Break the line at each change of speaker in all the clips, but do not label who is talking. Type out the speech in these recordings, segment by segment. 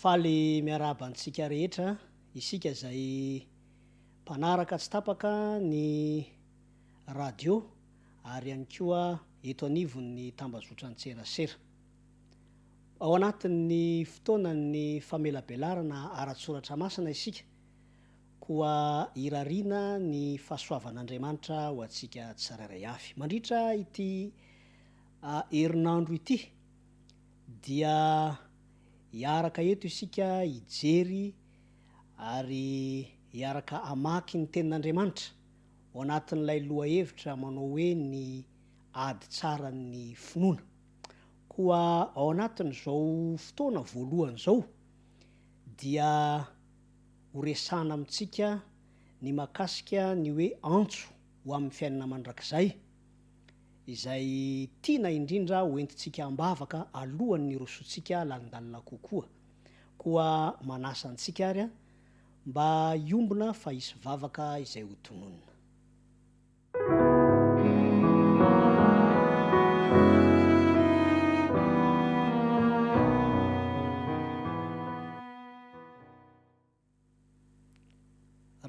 Faly miarahaba antsika rehetra, isika izay mpanaraka tsy tapaka ny radio ary ihany koa eto anivon'ny tambazotran-tserasera. Ao anatin'ny fotoanan'ny famelabelarana ara-tSoratra Masina isika, koa irariana ny fahasoavan'Andriamanitra ho antsika tsirairay avy. Mandritra ity herinandro ity dia hiaraka eto isika hijery ary hiaraka hamaky ny Tenin'Andriamanitra ao anatin'ilay lohahevitra manao hoe ny ady tsaran'ny finoana. Koa ao anatin'izao fotoana voalohany izao dia ho resahana amintsika ny mahakasika ny hoe antso ho amin'ny fiainana mandrakizay, izay tiana indrindra ho entintsika am-bavaka alohan'ny hirosoantsika lalindalina kokoa. Koa manasa antsika ary aho mba hiombona fa hisy vavaka izay ho tononina.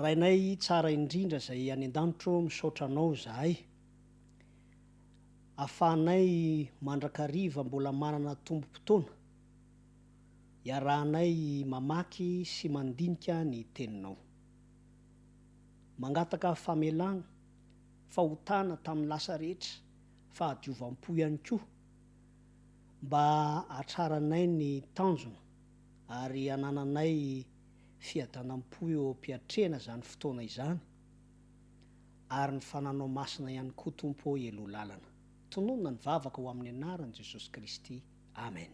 Rainay tsara indrindra izay any an-danitro misaotra anao izahay afahanay mandrakariva mbola manana tombom-potoana iarahanay mamaky sy mandinika ny teninao. Mangataka famelana, fahotana tamin'ny lasa rehetra, fahadiovam-po ihany koa mba hatraranay ny tanjona ary hanananay fiadanam-po eo am-piatrehana izany fotoana izany ary ny fananao masina ihany koa Tompo ô Eloa lalana. Tononina ny vavaka ho amin'ny anaran'i Jesosy Kristy. Amen.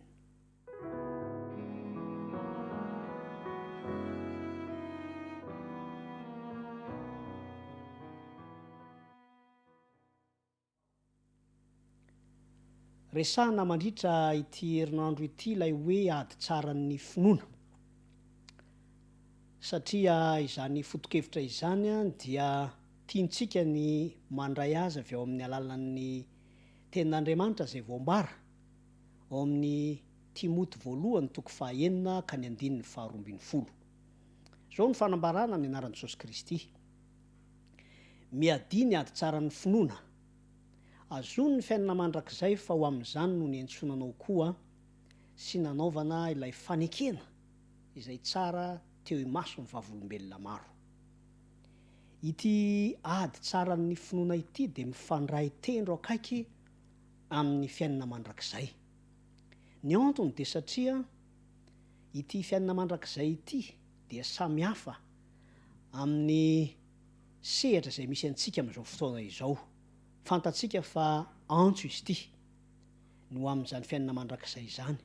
Resahina mandritra ity herinandro ity ilay hoe ady tsaran'ny finoana. Satria izany fotokevitra izany dia tiantsika ny mandray azy avy ao amin'ny alalan'ny tenin'Andriamanitra izay voambara. ao amin'ny Timoty voalohany toko fahaenina ka ny andininy faharoa ambin'ny folo. Izao no fanambarana ny anaran'i Jesosy Kristy, Miadia ny ady tsaran'ny finoana. Azono ny fiainana mandrakizay fa ho amin'izany no niantsoana anao koa sy nanaovana ilay fanekena izay tsara teo imason'ny vavolombelona maro. Ity ady tsaran'ny finoana ity dia mifandray tendro akaiky amin'ny fiainana mandrakizay. Ny antony dia satria ity fiainana mandrakizay ity dia samy hafa amin'ny sehatra izay misy antsika amin'izao fotoana izao. Fantatsika fa antso izy ity ny ho amin'izany fiainana mandrakizay izany.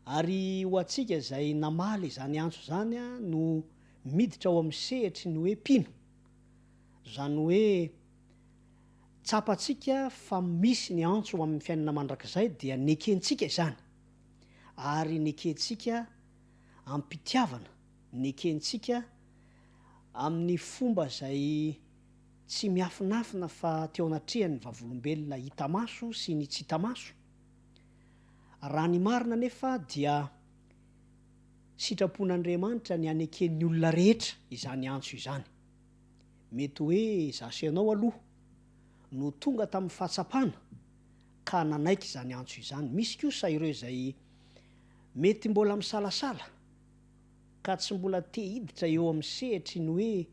Ary ho antsika izay namaly izany antso izany no miditra ao amin'ny sehatry ny hoe mpino, izany hoe Tsapantsika fa misy ny antso ho amin'ny fiainana mandrakizay dia nekentsika izany, ary nekentsika am-pitiavana, nekentsika amin'ny fomba izay tsy miafinafina fa teo anatrehan'ny vavolombelona hita maso sy ny tsy hita maso. Raha ny marina anefa dia sitrapon'Andriamanitra ny haneken'ny olona rehetra izany antso izany. Mety hoe izaho sy ianao aloha no tonga tamin'ny fahatsapana ka nanaiky izany antso izany. Misy kosa ireo izay mety mbola misalasala ka tsy mbola te hiditra eo amin'ny sehatry ny hoe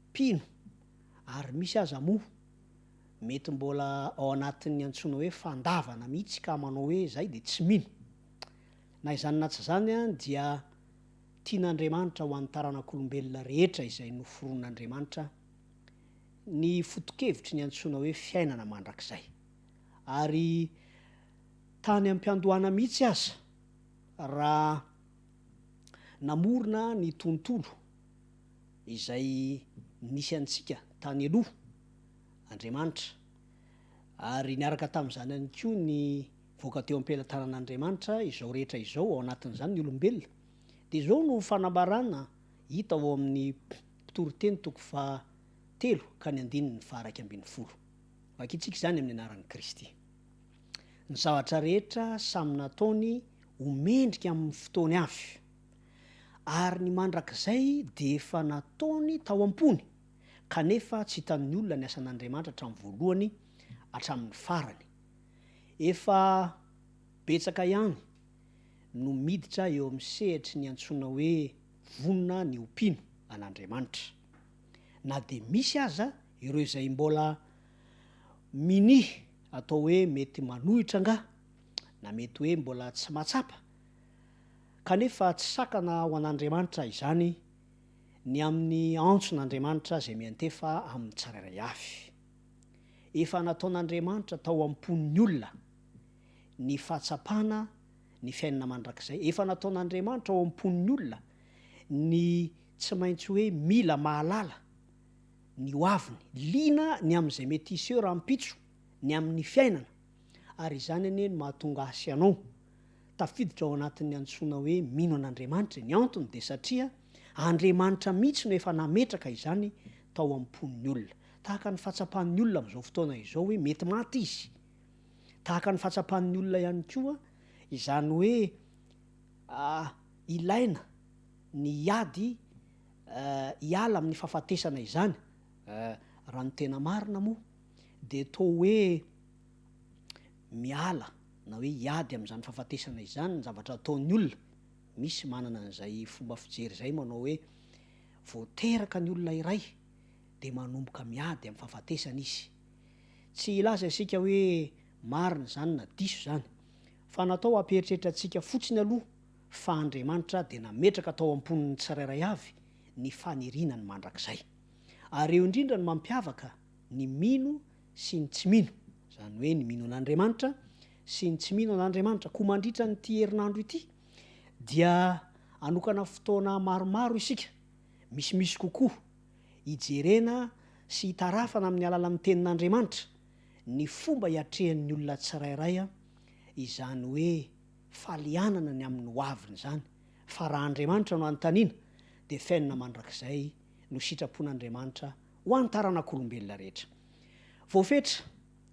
mpino, ary misy aza moa mety mbola ao anatin'ny antsoina hoe fandavana mihitsy ka manao hoe izahay dia tsy mino. Na izany na tsy izany dia. tian'Andriamanitra ho an'ny taranak'olombelona rehetra izay noforonin'Andriamanitra ny foto-kevitry ny antsoina hoe fiainana mandrakizay. Ary tany am-piandohana mihitsy aza, raha namorona ny tontolo izay nisy antsika tany aloha Andriamanitra, ary niaraka tamin'izany ihany koa ny Voaka teo am-pelatanan'Andriamanitra izao rehetra izao, ao anatin'izany ny olombelona. Dia izao no fanambarana hita ao amin'ny Mpitory teny toko faha telo ka ny andininy faha iraika ambin'ny folo. Vakintsika izany amin'ny anaran'i Kristy. Ny zavatra rehetra samy nataony ho mendrika amin'ny fotoany avy, ary ny mandrakizay dia efa nataony tao am-pony, kanefa tsy hitan'ny olona ny asan'Andriamanitra hatramin'ny voalohany hatramin'ny farany, Efa betsaka ihany no miditra eo amin'ny sehatry ny antsoina hoe vonona ny ho mpino an'Andriamanitra. Na dia misy aza ireo izay mbola minia atao hoe mety manohitra angaha, na mety hoe mbola tsy mahatsapa, kanefa tsy sakana ho an'Andriamanitra izany ny amin'ny antson'Andriamanitra izay miantefa amin'ny tsirairay avy. Efa nataon'Andriamanitra tao am-pon'ny olona ny fahatsapana ny fiainana mandrakizay. Efa nataon'Andriamanitra ao am-pon'ny olona ny tsy maintsy hoe mila mahalala ny ho aviny. Liana ny amin'izay mety hiseho rahampitso, ny amin'ny fiainana. Ary izany anie no mahatonga ahy sy ianao tafiditra ao anatin'ny antsoina hoe mino an'Andriamanitra e. Ny antony dia satria Andriamanitra mihitsy no efa nametraka izany tao am-pon'ny olona. Tahaka ny fahatsapan'ny olona amin'izao fotoana izao hoe mety maty izy. Tahaka ny fahatsapan'ny olona ihany koa izany hoe ilaina ny hiady hiala amin'ny fahafatesana izany. Raha ny tena marina moa dia toa hoe miala na hoe hiady amin'izany fahafatesana izany ny zavatra ataon'ny olona. Misy manana an'izay fomba fijery izay manao hoe vao teraka ny olona iray, dia manomboka miady amin'ny fahafatesana izy. Tsy hilaza isika hoe marina izany na diso izany, fa natao hampieritreritra antsika fotsiny aloha fa Andriamanitra dia nametraka tao am-pon'ny tsirairay avy ny faniriana ny mandrakizay. Ary eo indrindra no mampiavaka ny mino sy ny tsy mino, izany hoe ny mino an'Andriamanitra sy ny tsy mino an'Andriamanitra. Koa mandritra an'ity herinandro ity dia hanokana fotoana maromaro isika misimisy kokoa, hijerena sy hitarafana amin'ny alalan'ny Tenin'Andriamanitra ny fomba hiatrehan'ny olona tsirairay izany hoe falianana ny amin'ny ho aviny izany, fa raha Andriamanitra no anontaniana dia fenina mandrakizay no sitrapon'Andriamanitra ho an'ny taranak'olombelona rehetra. Voafetra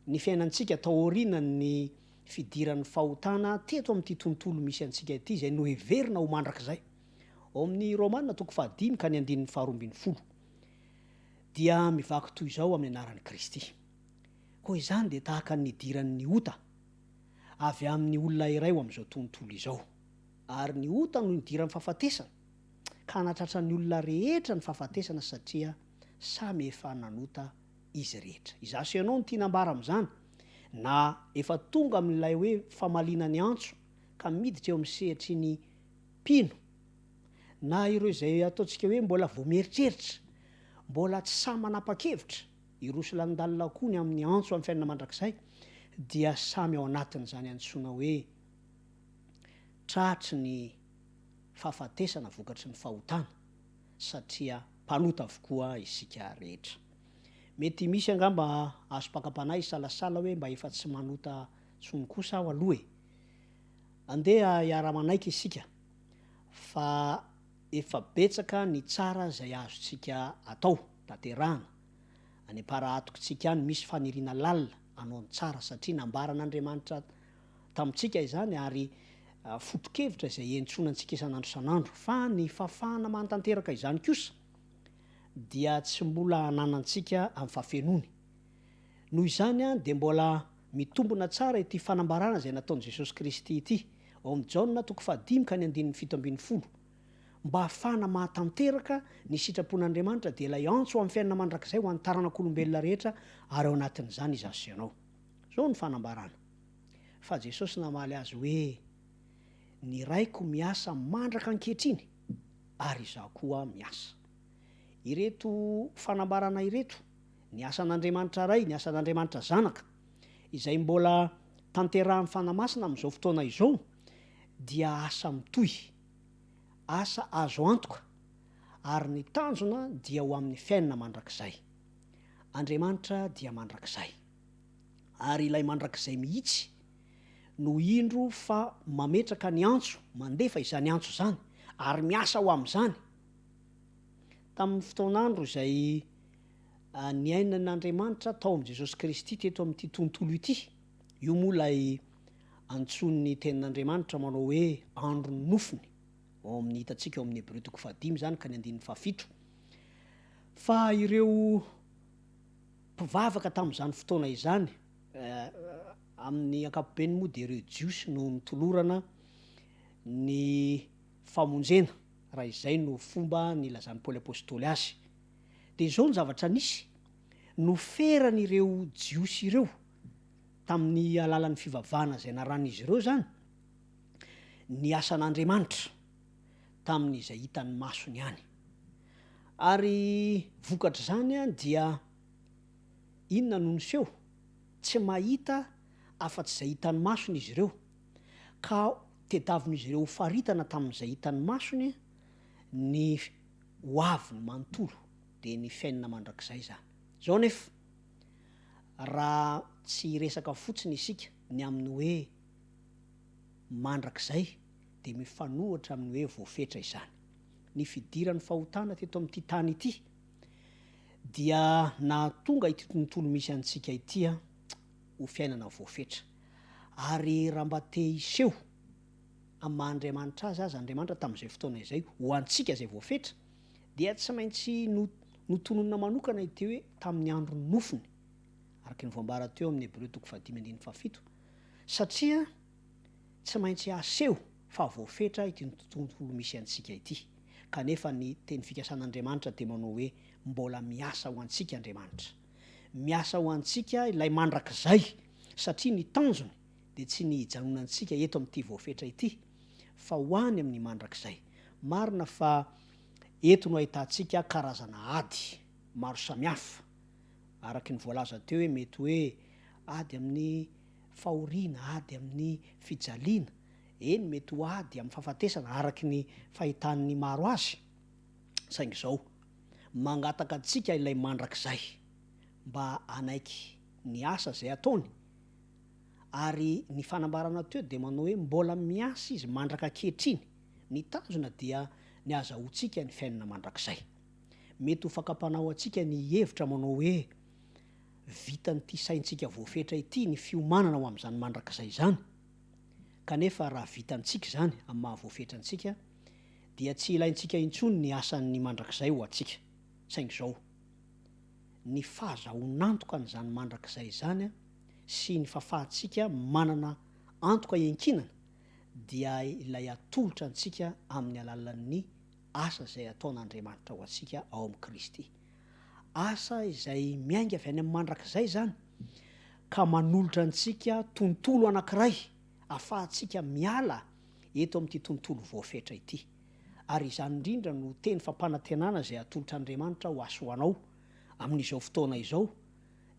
ny fiainantsika taorianan'ny fidiran'ny fahotana teto amin'ity tontolo misy antsika ity izay noheverina ho mandrakizay. Ao amin'ny Romana toko fahadimy ka ny andininy faharoa ambin'ny folo dia mivaky toy izao amin'ny anaran'i Kristy. Koa izany dia tahaka ny nidiran'ny ota avy amin'ny olona iray ho amin'izao tontolo izao. Ary ny ota no nidiran'ny fahafatesana, ka hanatratra ny olona rehetra ny fahafatesana satria samy efa nanota izy rehetra. Izaho sy ianao no tiana ambara amin'izany, na efa tonga amin'ilay hoe famaliana ny antso ka miditra eo amin'ny sehatry ny Mpino, na ireo izay ataontsika hoe mbola vao mieritreritra, mbola tsy sahy manapa-kevitra, hiroso lanindalinao koa ny amin'ny antso amin'ny fiainana mandrakizay, dia samy ao anatin'izany antsoina hoe tratry ny fahafatesana vokatry ny fahotana, satria mpanota avokoa isika rehetra. Mety misy angamba azom-pakam-panahy hisalasala hoe mba efa tsy manota intsony kosa aho aloha e! Andeha hiara-manaiky isika fa efa betsaka ny tsara izay azontsika atao, tanterahana. Any am-para atokontsika any misy faniriana lalina hanao ny tsara, satria nambaran'Andriamanitra tamintsika izany ary foto-kevitra izay hentsoana antsika isan'andro isan'andro. Fa ny fahafahana mahatanteraka izany kosa dia tsy mbola ananantsika amin'ny fahafenoany. Noho izany dia mbola mitombona tsara ity fanambarana izay nataon'i Jesosy Kristy ity, ao amin'ny Jaona toko fahadimy ka ny andininy fito ambin'ny folo, Mba hahafahana mahatanteraka ny sitrapon'Andriamanitra dia ilay antso ho amin'ny fiainana mandrakizay ho an'ny taranak'olombelona rehetra ary ao anatin'izany izaho sy ianao. Izao ny fanambarana, Fa Jesosy namaly azy hoe, Ny Raiko miasa mandraka ankehitriny ary izaho koa miasa. Ireto fanambarana ireto Ny asan'Andriamanitra Ray, ny asan'Andriamanitra Zanaka, izay mbola tanterahin'ny Fanahy Masina amin'izao fotoana izao, dia asa mitohy, asa azo antoka, ary ny tanjona dia ho amin'ny fiainana mandrakizay. Andriamanitra dia mandrakizay. Ary Ilay mandrakizay mihitsy no indro fa mametraka ny antso, mandefa izany antso izany, ary miasa ho amin'izany. Tamin'ny fotoan'andro izay niainan'Andriamanitra tao amin'i Jesosy Kristy teto amin'ity tontolo ity. Io moa ilay antsoin'ny Tenin'Andriamanitra manao hoe andron'ny nofony, ao amin'ny hitantsika ao amin'ny Hebreo toko fahadimy izany ka ny andininy fahafito. Fa ireo mpivavaka tamin'izany fotoana izany, amin'ny ankapobeny moa dia ireo Jiosy no nitolorana ny famonjena, raha izay no fomba nilazan'i Paoly Apostoly azy. dia izao ny zavatra nisy, noferan'ireo Jiosy ireo, tamin'ny alalan'ny fivavahana izay naran'izy ireo izany, ny asan'Andriamanitra tamin'izay hitan'ny masony any. Ary vokatr'izany dia inona no niseho? Tsy mahita afa-tsy izay hitan'ny masony izy ireo, ka tediavin'izy ireo ho faritana tamin'izay hitan'ny masony ny ho aviny manontolo dia ny fiainana mandrakizay izany. Izao anefa, raha tsy hiresaka fotsiny isika ny amin'ny hoe mandrakizay dia mifanohitra amin'ny hoe voafetra izany. Ny fidiran'ny fahotana teto amin'ity tany ity dia nahatonga ity tontolo misy antsika ity ho fiainana voafetra. Ary raha mba te hiseho. amin'ny maha Andriamanitra Azy aza, Andriamanitra tamin'izay fotoana izay, ho antsika izay voafetra, dia tsy maintsy no, notononina manokana ity hoe tamin'ny andron'ny nofony, araka ny voambara teo amin'ny Hebreo toko fahadimy andininy fahafito, satria tsy maintsy aseho fa voafetra ity tontolo misy antsika ity, kanefa ny teny fikasan'Andriamanitra dia manao hoe mbola miasa ho antsika Andriamanitra. Miasa ho antsika Ilay mandrakizay, satria ny tanjony dia tsy ny hijanonantsika eto amin'ity voafetra ity, fa ho any amin'ny mandrakizay. Marina fa eto no ahitantsika karazana ady maro samihafa, araka ny voalaza teo hoe mety hoe ady amin'ny fahoriana, ady amin'ny fijaliana, eny mety ho ady amin'ny fahafatesana araka ny fahitan'ny maro azy, saingy izao, mangataka antsika ilay mandrakizay mba hanaiky ny asa izay ataony, Ary ny fanambarana teo dia manao hoe mbola miasa izy mandraka ankehitriny. Ny tanjona dia ny hazahoantsika ny fiainana mandrakizay. Mety ho fakam-panahy ho antsika ny hihevitra manao hoe vitan'ity saintsika voafetra ity ny fiomanana ho amin'izany mandrakizay izany. Kanefa raha vitantsika izany amin'ny maha voafetra antsika dia tsy ilaintsika intsony ny asan'ny mandrakizay ho antsika. Saingy izao, ny fahazahoan'antoka an'izany mandrakizay izany, sy ny fahafahantsika manana antoka iankinana dia ilay atolotra antsika amin'ny alalan'ny asa izay ataon'Andriamanitra ho antsika ao amin'i Kristy. Asa izay miainga avy any amin'ny mandrakizay izany ka manolotra antsika tontolo anankiray ahafahantsika miala eto amin'ity tontolo voafetra ity. Ary izany indrindra no teny fampanantenana izay atolotr'Andriamanitra ho ahy sy ho anao amin'izao fotoana izao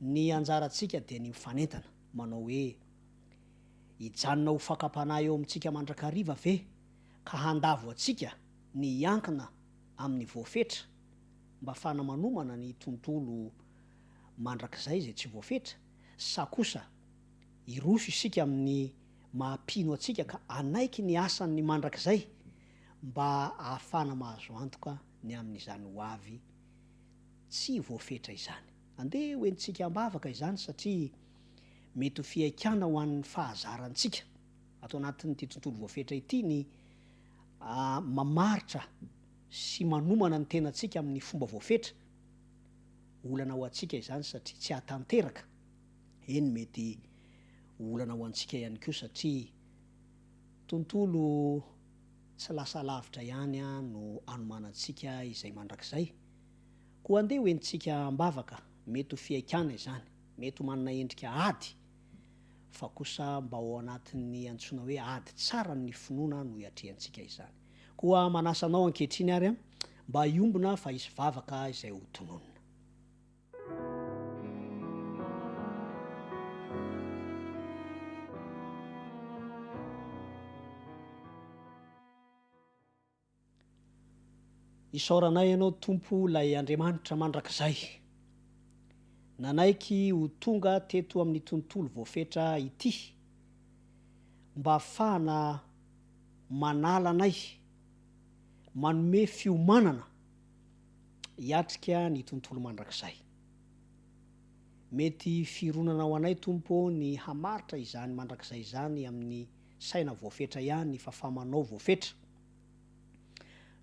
Ny anjarantsika dia ny mifanentana, manao hoe, Hijanona ho fakam-panahy eo amintsika mandrakariva ve ka handavo antsika ny hiankina amin'ny voafetra mba fanamanomana ny tontolo mandrakizay izay tsy voafetra, sa kosa hiroso isika amin'ny maha-mpino antsika ka hanaiky ny asan'ny mandrakizay mba hahafana mahazo antoka ny amin'izany hoavy tsy voafetra izany? Andeha ho entintsika am-bavaka izany satria mety ho fihaikana ho an'ny fahazarantsika ato anatin'ity tontolo voafetra ity ny mamaritra sy manomana ny tenantsika amin'ny fomba voafetra. Olana ho antsika izany satria tsy hahatanteraka, eny mety ho olana ho antsika ihany koa satria tontolo tsy lasa lavitra ihany no anomanantsika izay mandrakizay Koa andeha ho entintsika am-bavaka, mety ho fihaikana izany, mety ho manana endrika ady, fa kosa mba ao anatin'ny antsoina hoe ady tsara amin'ny finoana no iatrehantsika izany. Koa manasa anao ankehitriny ary aho mba hiombona fa hisy vavaka izay ho tononina. Isaoranay Anao Tompo ilay Andriamanitra mandrakizay nanaiky ho tonga teto amin'ny tontolo voafetra ity mba hafahana manala anay, manome fiomanana hiatrika ny tontolo mandrakizay. Mety fironana ho anay Tompo ny hamaritra izany mandrakizay izany amin'ny saina voafetra ihany fa famanao voafetra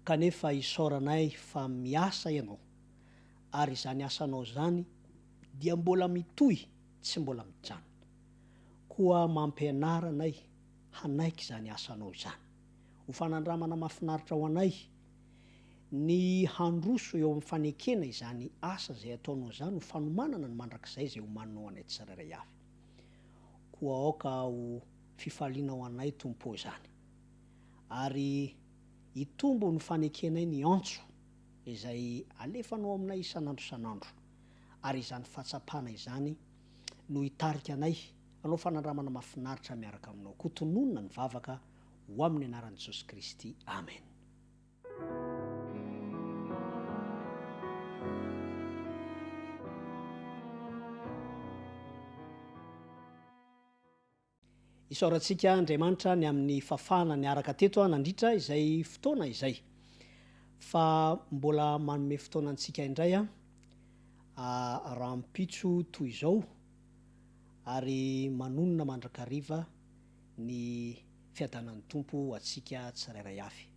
kanefa isaoranay fa miasa ianao ary izany asanao izany dia mbola mitohy tsy mbola mijanona koa mampianara anay hanaiky izany asanao izany ho fanandramana mafinaritra ho anay ny handroso eo amin'ny fanekena izany asa izay ataonao izany ho fanomanana ny mandrakizay izay homaninao anay tsirairay avy. Koa aoka ho fifaliana ho anay, Tompo ô, izany, ary hitombo ny fanekenay ny antso izay alefanao aminay isan'andro isan'andro, ary izany fahatsapana izany no hitarika anay hanao fanandramana mahafinaritra miaraka aminao. Koa tononina ny vavaka ho amin'ny anaran'i Jesosy Kristy. Amen. Isaorantsika Andriamanitra ny amin'ny fafahana niaraka teto nandritra izay fotoana izay. Fa mbola manome fotoana antsika indray rahampitso toy izao ary manonona mandrakariva ny fiadanan'ny Tompo ho antsika tsirairay avy.